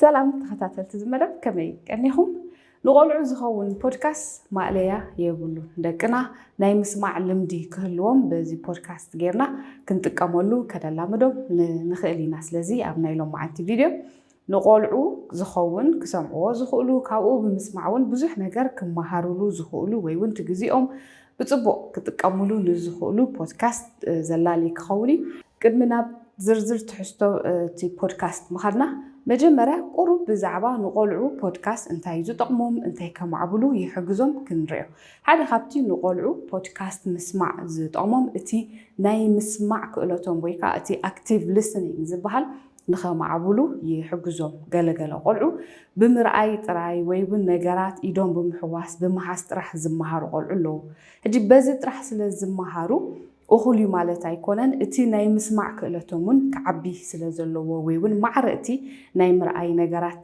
ሰላም ተኸታተልቲ ዝመደብ ከመይ ቀኒኹም? ንቆልዑ ዝኸውን ፖድካስት ማእለያ የብሉን። ደቅና ናይ ምስማዕ ልምዲ ክህልዎም በዚ ፖድካስት ጌርና ክንጥቀመሉ ከነላምዶም ንኽእል ኢና። ስለዚ ኣብ ናይ ሎማዓንቲ ቪድዮ ንቆልዑ ዝኸውን ክሰምዕዎ ዝኽእሉ ካብኡ ብምስማዕ እውን ብዙሕ ነገር ክመሃርሉ ዝኽእሉ ወይ እውን እቲ ግዜኦም ብጽቡቕ ክጥቀሙሉ ንዝኽእሉ ፖድካስት ዘላሊ ክኸውን እዩ። ቅድሚ ናብ ዝርዝር ትሕዝቶ እቲ ፖድካስት ምኻድና፣ መጀመርያ ቁሩብ ብዛዕባ ንቆልዑ ፖድካስት እንታይ እዩ ዝጠቕሞም፣ እንታይ ከማዕብሉ ይሕግዞም ክንርእዮ። ሓደ ካብቲ ንቆልዑ ፖድካስት ምስማዕ ዝጠቕሞም፣ እቲ ናይ ምስማዕ ክእለቶም ወይ ከኣ እቲ ኣክቲቭ ሊስኒንግ ዝበሃል ንኸማዕብሉ ይሕግዞም። ገለ ገለ ቆልዑ ብምርኣይ ጥራይ ወይ እውን ነገራት ኢዶም ብምሕዋስ፣ ብምሃዝ ጥራሕ ዝመሃሩ ቆልዑ ኣለዉ። ሕጂ በዚ ጥራሕ ስለ ዝመሃሩ እኹል እዩ ማለት ኣይኮነን። እቲ ናይ ምስማዕ ክእለቶም እውን ክዓቢ ስለ ዘለዎ ወይ እውን ማዕረ እቲ ናይ ምርኣይ ነገራት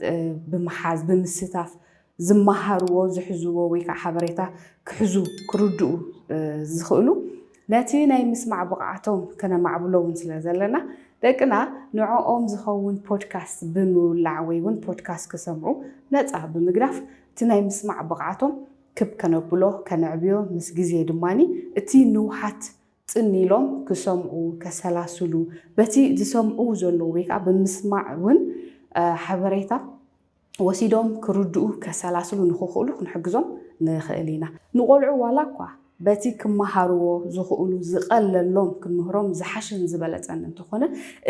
ብምሓዝ፣ ብምስታፍ፣ ዝመሃርዎ፣ ዝሕዝዎ ወይ ከዓ ሓበሬታ ክሕዙ፣ ክርድኡ ዝኽእሉ ነቲ ናይ ምስማዕ ብቕዓቶም ከነማዕብሎ እውን ስለ ዘለና ደቅና ንዕኦም ዝኸውን ፖድካስት ብምውላዕ ወይ እውን ፖድካስት ክሰምዑ ነፃ ብምግዳፍ እቲ ናይ ምስማዕ ብቕዓቶም ክብ ከነብሎ፣ ከነዕብዮ ምስ ግዜ ድማ እቲ ንውሓት ፅን ኢሎም ክሰምዑ፣ ከሰላስሉ በቲ ዝሰምዕው ዘለዉ ወይ ከዓ ብምስማዕ እውን ሓበሬታ፣ ወሲዶም ክርድኡ፣ ከሰላስሉ ንኽኽእሉ ክንሕግዞም ንኽእል ኢና። ንቆልዑ ዋላ እኳ በቲ ክመሃርዎ ዝኽእሉ ዝቐለሎም ክንምህሮም ዝሓሸን ዝበለጸን እንተኾነ፣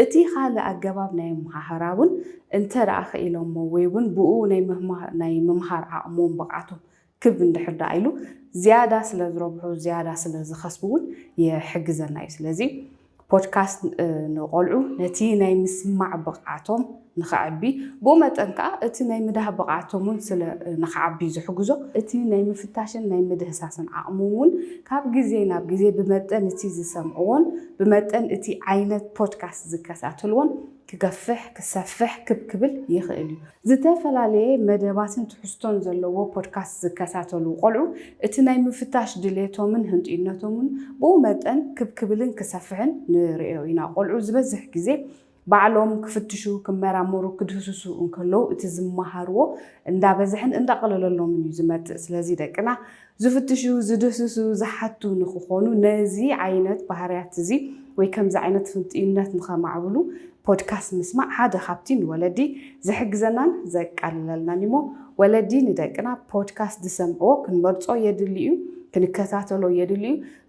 እቲ ካልእ ኣገባብ ናይ ኣመሃህራ እውን እንተደኣ ክኢሎሞ ወይ'ውን ብእኡ ናይ ምምሃር ዓቕሞም፣ ብቕዓቶም፣ ክብ እንድሕር ደኣ ኢሉ ዝያዳ ስለ ዝረብሑ ዝያዳ ስለ ዝኸስቡ እውን ይሕግዘና እዩ። ስለዚ ፖድካስት ንቆልዑ ነቲ ናይ ምስማዕ ብቕዓቶም ንኸዕቢ ብኡ መጠን ከዓ እቲ ናይ ምዳህ ብቕዓቶም እውን ስለ ንኸዓቢ እዩ ዝሕግዞ። እቲ ናይ ምፍታሽን ናይ ምድህሳስን ዓቕሞም እውን ካብ ግዜ ናብ ግዜ ብመጠን እቲ ዝሰምዕዎን ብመጠን እቲ ዓይነት ፖድካስት ዝከታተልዎን ክገፍሕ፣ ክሰፍሕ፣ ክብ ክብል ይኽእል እዩ። ዝተፈላለየ መደባትን ትሕዝቶን ዘለዎ ፖድካስት ዝከታተሉ ቆልዑ እቲ ናይ ምፍታሽ ድሌቶምን ህንጡይነቶምን ብኡ መጠን ክብ ክብልን ክሰፍሕን ንርእዮ ኢና። ቆልዑ ዝበዝሕ ግዜ ባዕሎም ክፍትሹ፣ ክመራመሩ፣ ክድህስሱ እንከለዉ እቲ ዝመሃርዎ እንዳበዝሐን እንዳቐለለሎምን እዩ ዝመጽእ። ስለዚ ደቅና ዝፍትሹ፣ ዝድህስሱ፣ ዝሓቱ ንክኾኑ ነዚ ዓይነት ባህርያት እዚ ወይ ከምዚ ዓይነት ፍንጥዩነት ንኸማዕብሉ ፖድካስት ምስማዕ ሓደ ካብቲ ንወለዲ ዝሕግዘናን ዘቃልለልናን እዩሞ ወለዲ ንደቅና ፖድካስት ዝሰምዕዎ ክንመርጾ የድሊ እዩ ክንከታተሎ የድሊ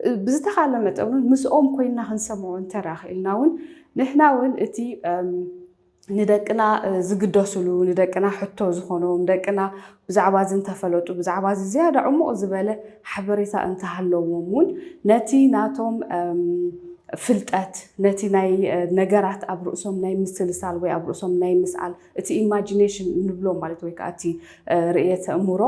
እዩ ብዝተኻለ መጠን እውን ምስኦም ኮይና ክንሰምዖ እንተደኣ ክኢልና እውን ንሕና እውን እቲ ንደቅና ዝግደሱሉ ንደቅና ሕቶ ዝኾኖም ደቅና ብዛዕባ እዚ እንተፈለጡ ብዛዕባ እዚ ዝያዳ ዕሙቕ ዝበለ ሓበሬታ እንተሃለዎም እውን ነቲ ናቶም ፍልጠት ነቲ ናይ ነገራት ኣብ ርእሶም ናይ ምስልሳል ወይ ኣብ ርእሶም ናይ ምስኣል እቲ ኢማጂኔሽን እንብሎ ማለት ወይ ከዓ እቲ ርእየተ እምሮ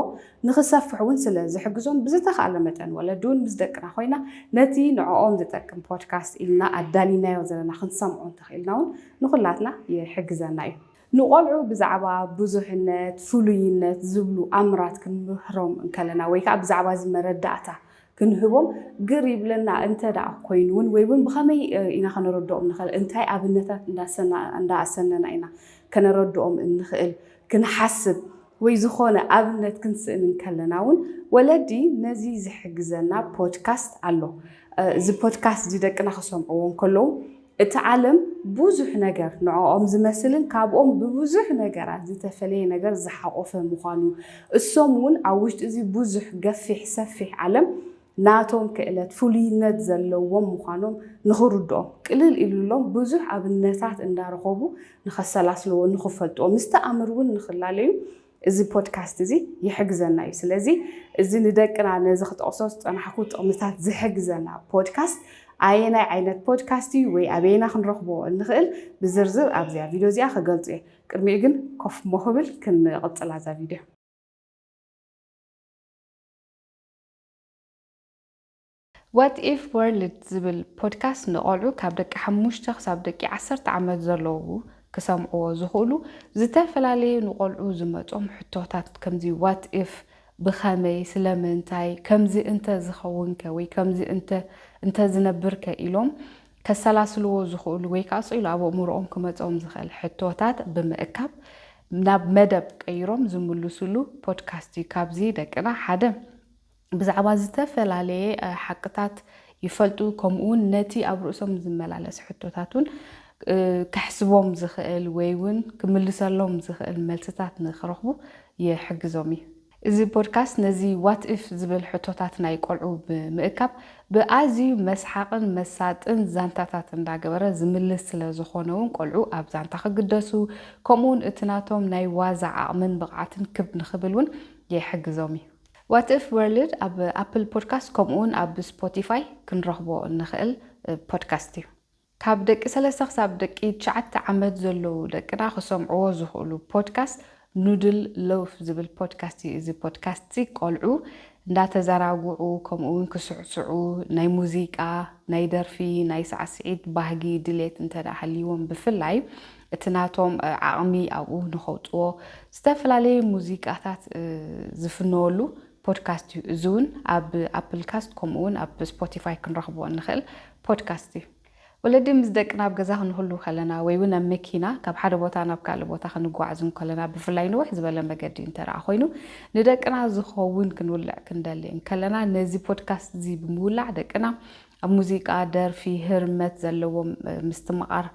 ንክሰፍሕ እውን ስለ ዝሕግዞም ብዝተኻለ መጠን ወለዲ እውን ምስ ደቅና ኮይና ነቲ ንዕኦም ዝጠቅም ፖድካስት ኢልና ኣዳሊናዮ ዘለና ክንሰምዖ እንተኽኢልና እውን ንኹላትና ይሕግዘና እዩ። ንቆልዑ ብዛዕባ ብዙሕነት፣ ፍሉይነት ዝብሉ ኣምራት ክንምህሮም እንከለና ወይ ከኣ ብዛዕባ እዚ መረዳእታ ክንህቦም ግር ይብለና እንተደኣ ኮይኑ እውን ወይ እውን ብኸመይ ኢና ከነረድኦም ንኸእል እንታይ ኣብነታት እንዳኣሰነና ኢና ከነረድኦም እንኸእል ክንሓስብ ወይ ዝኾነ ኣብነት ክንስእን እንከለና ውን ወለዲ ነዚ ዝሕግዘና ፖድካስት ኣሎ። እዚ ፖድካስት እዚ ደቅና ክሰምዕዎ እንከለዉ እቲ ዓለም ብዙሕ ነገር ንዕኦም ዝመስልን ካብኦም ብብዙሕ ነገራት ዝተፈለየ ነገር ዝሓቖፈ ምዃኑ እሶም ውን ኣብ ውሽጢ እዚ ብዙሕ ገፊሕ ሰፊሕ ዓለም ናቶም ክእለት ፍሉይነት ዘለዎም ምዃኖም ንኽርድኦም ቅልል ኢሉሎም ብዙሕ ኣብነታት እንዳረኸቡ ንኸሰላስልዎ ንኽፈልጥዎ ምስ ተኣምር እውን ንኽላለዩ እዚ ፖድካስት እዚ ይሕግዘና እዩ። ስለዚ እዚ ንደቅና ነዚ ክጠቕሶ ዝጸናሕኩ ጥቕምታት ዝሕግዘና ፖድካስት ኣየናይ ዓይነት ፖድካስት እዩ ወይ ኣበየና ክንረኽቦ እንኽእል ብዝርዝር ኣብዚኣ ቪድዮ እዚኣ ክገልጹ እየ። ቅድሚኡ ግን ኮፍ ሞክብል ክንቕጽላ እዛ ቪድዮ። ዋት ኢፍ ወርልድ ዝብል ፖድካስት ንቆልዑ ካብ ደቂ ሓሙሽተ ክሳብ ደቂ ዓሰርተ ዓመት ዘለዉ ክሰምዕዎ ዝኽእሉ ዝተፈላለዩ ንቆልዑ ዝመጾም ሕቶታት ከምዚ ዋት ኢፍ ብኸመይ ስለምንታይ ከምዚ እንተ ዝኸውንከ ወይ ከምዚ እንተ እንተ ዝነብርከ ኢሎም ከሰላስልዎ ዝኽእሉ ወይ ከኣ ስቕ ኢሉ ኣብ ኣእምሮኦም ክመጾም ዝኽእል ሕቶታት ብምእካብ ናብ መደብ ቀይሮም ዝምልሱሉ ፖድካስት እዩ። ካብዚ ደቅና ሓደ ብዛዕባ ዝተፈላለየ ሓቅታት ይፈልጡ ከምኡውን ነቲ ኣብ ርእሶም ዝመላለስ ሕቶታት እውን ከሕስቦም ዝኽእል ወይ እውን ክምልሰሎም ዝኽእል መልስታት ንክረኽቡ ይሕግዞም እዩ። እዚ ፖድካስት ነዚ ዋት እፍ ዝብል ሕቶታት ናይ ቆልዑ ብምእካብ ብኣዝዩ መስሓቕን መሳጥን ዛንታታት እንዳገበረ ዝምልስ ስለ ዝኾነ ውን ቆልዑ ኣብ ዛንታ ክግደሱ ከምኡ ውን እቲ ናቶም ናይ ዋዛ ዓቕምን ብቕዓትን ክብ ንኽብል ውን ይሕግዞም እዩ። ዋት እፍ ወርልድ ኣብ ኣፕል ፖድካስት ከምኡ ውን ኣብ ስፖቲፋይ ክንረኽቦ እንኽእል ፖድካስት እዩ። ካብ ደቂ ሰለስተ ክሳብ ደቂ ትሽዓተ ዓመት ዘለዉ ደቅና ክሰምዕዎ ዝኽእሉ ፖድካስት ኑድል ሎፍ ዝብል ፖድካስት እዩ። እዚ ፖድካስትዚ ቆልዑ እንዳተዘራግዑ ከምኡ እውን ክስዕስዑ ናይ ሙዚቃ፣ ናይ ደርፊ፣ ናይ ሳዕስዒት ባህጊ ድሌት እንተድኣ ሃልይዎም ብፍላይ እቲ ናቶም ዓቕሚ ኣብኡ ንኸውፅዎ ዝተፈላለየ ሙዚቃታት ዝፍነወሉ ፖድካስት እዩ። እዚ እውን ኣብ ኣፕል ካስት ከምኡ እውን ኣብ ስፖቲፋይ ክንረኽቦ እንኽእል ፖድካስት እዩ። ወለዲ ምስ ደቅና ኣብ ገዛ ክንህሉ ከለና ወይ እውን ኣብ መኪና ካብ ሓደ ቦታ ናብ ካልእ ቦታ ክንጓዓዝ እንከለና ብፍላይ ንውሕ ዝበለ መገዲ እንተረኣ ኮይኑ ንደቅና ዝኸውን ክንውልዕ ክንደሊ እንከለና ነዚ ፖድካስት እዚ ብምውላዕ ደቅና ኣብ ሙዚቃ፣ ደርፊ፣ ህርመት ዘለዎም ምስትምቓር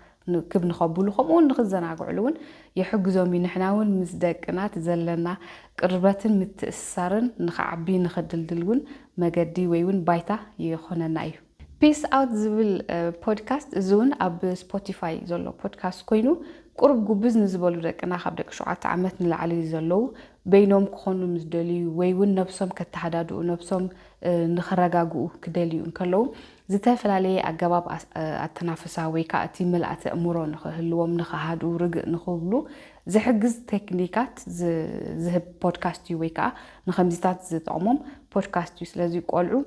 ክብ ንኸብሉ ከምኡውን ንኽዘናግዕሉ እውን ይሕግዞም እዩ። ንሕና እውን ምስ ደቅና እቲ ዘለና ቅርበትን ምትእስሳርን ንኽዓቢ ንኽድልድል እውን መገዲ ወይ እውን ባይታ ይኾነና እዩ። ፒስ ኣውት ዝብል ፖድካስት እዚ እውን ኣብ ስፖቲፋይ ዘሎ ፖድካስት ኮይኑ ቁሩብ ጉብዝ ንዝበሉ ደቅና ካብ ደቂ ሸውዓተ ዓመት ንላዕሊ ዘለዉ በይኖም ክኾኑ ምስ ደልዩ ወይ እውን ነብሶም ከተሃዳድኡ ነብሶም ንኽረጋግኡ ክደልዩ እንከለዉ ዝተፈላለየ ኣገባብ ኣተናፍሳ ወይ ከኣ እቲ ምልኣተ ኣእምሮ ንኽህልዎም፣ ንኽሃድኡ፣ ርግእ ንኽብሉ ዝሕግዝ ቴክኒካት ዝህብ ፖድካስት እዩ ወይ ከኣ ንኸምዚታት ዝጠቕሞም ፖድካስት እዩ። ስለዚ ቆልዑ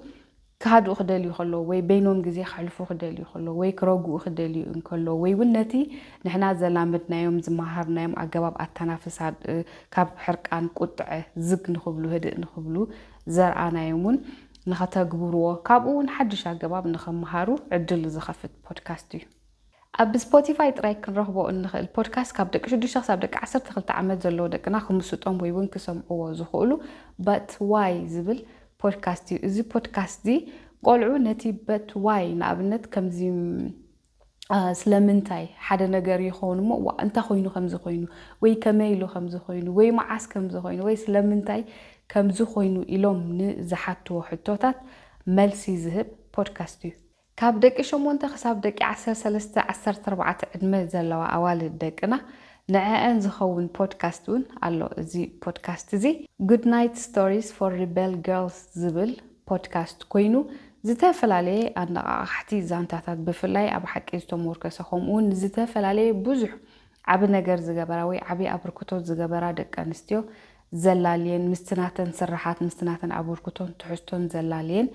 ክሃድኡ ክደልዩ ከለዉ ወይ በይኖም ግዜ ከሕልፉ ክደልዩ ከለዉ ወይ ክረግኡ ክደልዩ እንከለዉ ወይ እውን ነቲ ንሕና ዘላመድናዮም፣ ዝመሃርናዮም ኣገባብ ኣተናፍሳ ካብ ሕርቃን፣ ቁጥዐ፣ ዝግ ንኽብሉ፣ ህድእ ንኽብሉ ዘርኣናዮም እውን ንኸተግብሩዎ ካብኡ እውን ሓድሽ ኣገባብ ንኸመሃሩ ዕድል ዝኸፍት ፖድካስት እዩ። ኣብ ስፖቲፋይ ጥራይ ክንረኽቦ እንኽእል ፖድካስት ካብ ደቂ ሽዱሽተ ክሳብ ደቂ ዓሰርተ ክልተ ዓመት ዘለዉ ደቅና ክምስጦም ወይ እውን ክሰምዕዎ ዝኽእሉ But Why ዝብል ፖድካስት እዩ። እዚ ፖድካስትዚ ቆልዑ ነቲ But Why ንኣብነት ከምዚ ስለምንታይ ሓደ ነገር ይኸውን እሞ ዋእ እንታይ ኮይኑ ከምዚ ኮይኑ ወይ ከመይ ኢሉ ከምዚ ኮይኑ ወይ መዓስ ከምዚ ኮይኑ ወይ ስለምንታይ ከምዚ ኮይኑ ኢሎም ንዝሓትዎ ሕቶታት መልሲ ዝህብ ፖድካስት እዩ። ካብ ደቂ ሸሞንተ ክሳብ ደቂ ዓሰርተ ሰለስተ ዓሰርተ ኣርባዕተ ዕድመ ዘለዋ ኣዋልድ ደቅና ንዐኣን ዝኸውን ፖድካስት እውን ኣሎ። እዚ ፖድካስት እዚ Goodnight Stories for Rebel Girls ዝብል ፖድካስት ኮይኑ ዝተፈላለየ ኣነቓቓሕቲ ዛንታታት ብፍላይ ኣብ ሓቂ ዝተሞርከሰ ከምኡውን ንዝተፈላለየ ብዙሕ ዓቢ ነገር ዝገበራ ወይ ዓቢ ኣብርክቶት ዝገበራ ደቂ ኣንስትዮ ዘላልየን ምስቲ ናተን ስርሓት ምስቲ ናተን ኣበርክቶን ትሕዝቶን ዘላልየን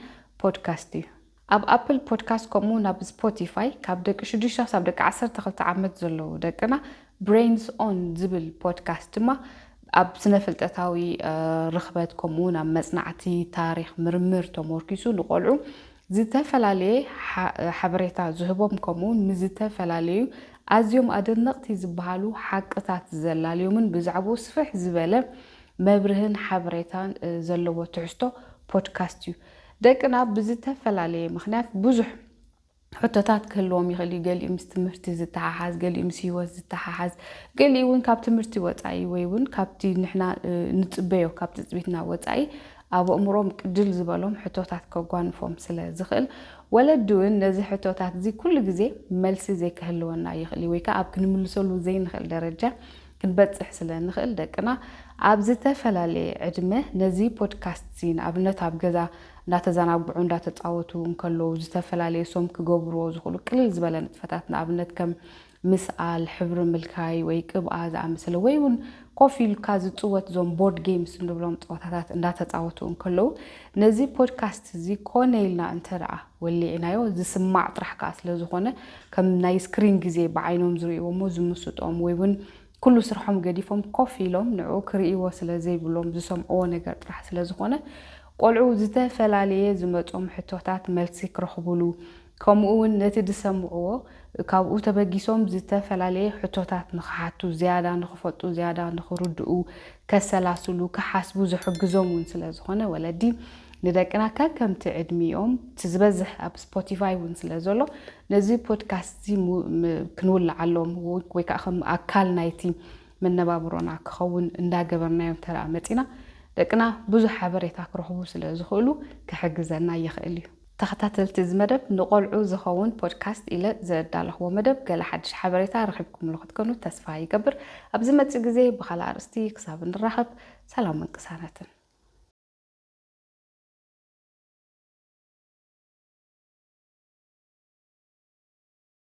ፖድካስት እዩ። ኣብ ኣፕል ፖድካስት ከምኡውን ኣብ ስፖቲፋይ ካብ ደቂ ሽዱሽተ ክሳብ ደቂ ዓሰርተ ክልተ ዓመት ዘለዉ ደቅና ብሬንስ ኦን ዝብል ፖድካስት ድማ ኣብ ስነ ፍልጠታዊ ርኽበት ከምኡ እውን ኣብ መጽናዕቲ ታሪኽ ምርምር ተሞርኪሱ ንቆልዑ ዝተፈላለየ ሓበሬታ ዝህቦም ከምኡውን ንዝተፈላለዩ ኣዝዮም ኣደነቕቲ ዝበሃሉ ሓቅታት ዘላልዮምን ብዛዕባኡ ስፍሕ ዝበለ መብርህን ሓበሬታን ዘለዎ ትሕዝቶ ፖድካስት እዩ። ደቅና ብዝተፈላለየ ምክንያት ብዙሕ ሕቶታት ክህልዎም ይኽእል እዩ። ገሊኡ ምስ ትምህርቲ ዝተሓሓዝ፣ ገሊኡ ምስ ህይወት ዝተሓሓዝ፣ ገሊኡ እውን ካብ ትምህርቲ ወፃኢ ወይ እውን ካብቲ ንሕና ንፅበዮ ካብ ትፅቢትና ወፃኢ ኣብ ኣእምሮም ቅድል ዝበሎም ሕቶታት ከጓንፎም ስለ ዝኽእል ወለዲ እውን ነዚ ሕቶታት እዚ ኩሉ ግዜ መልሲ ዘይክህልወና ይኽእል እዩ ወይ ከዓ ኣብ ክንምልሰሉ ዘይንኽእል ደረጃ ክንበጽሕ ስለ እንኽእል ደቅና ኣብ ዝተፈላለየ ዕድመ ነዚ ፖድካስት'ዚ ንኣብነት ኣብ ገዛ እንዳተዛናግዑ እንዳተጻወቱ እንከለዉ ዝተፈላለዩ ሶም ክገብርዎ ዝኽእሉ ቅልል ዝበለ ንጥፈታት ንኣብነት ከም ምስኣል፣ ሕብሪ ምልካይ ወይ ቅብኣ ዝኣመሰለ ወይ ውን ኮፍ ኢልካ ዝጽወት እዞም ቦርድ ጌምስ እንብሎም ጸወታታት እንዳተጻወቱ እንከለዉ ነዚ ፖድካስት'ዚ ኮነ ኢልና እንተደኣ ወሊዕናዮ ዝስማዕ ጥራሕ ከኣ ስለ ዝኾነ ከም ናይ ስክሪን ግዜ ብዓይኖም ዝርእይዎሞ ዝምስጦም ወይ ውን ኩሉ ስርሖም ገዲፎም ኮፍ ኢሎም ንዕኡ ክርእይዎ ስለ ዘይብሎም ዝሰምዕዎ ነገር ጥራሕ ስለ ዝኾነ ቆልዑ ዝተፈላልየ ዝመጾም ሕቶታት መልሲ ክረኽቡሉ ከምኡ ውን ነቲ ዝሰምዕዎ ካብኡ ተበጊሶም ዝተፈላልየ ሕቶታት ንኽሓቱ ዝያዳ ንኽፈልጡ ዝያዳ ንኽርድኡ ከሰላስሉ፣ ክሓስቡ ዝሕግዞም እውን ስለ ዝኾነ ወለዲ ንደቅና ከከምቲ ዕድሚኦም እቲ ዝበዝሕ ኣብ ስፖቲፋይ እውን ስለ ዘሎ ነዚ ፖድካስት እዚ ክንውልዓሎም ወይ ከዓ ከም ኣካል ናይቲ መነባብሮና ክኸውን እንዳገበርናዮ እንተደኣ መፂና ደቅና ብዙሕ ሓበሬታ ክረኽቡ ስለ ዝኽእሉ ክሕግዘና ይኽእል እዩ። ተኸታተልቲ እዚ መደብ ንቆልዑ ዝኸውን ፖድካስት ኢለ ዘዳለኽዎ መደብ ገለ ሓድሽ ሓበሬታ ረኺብኩምሉ ክትኮኑ ተስፋ ይገብር። ኣብ ዝመጽእ ግዜ ብኻልእ ኣርእስቲ ክሳብ እንራኸብ ሰላምን ቅሳነትን።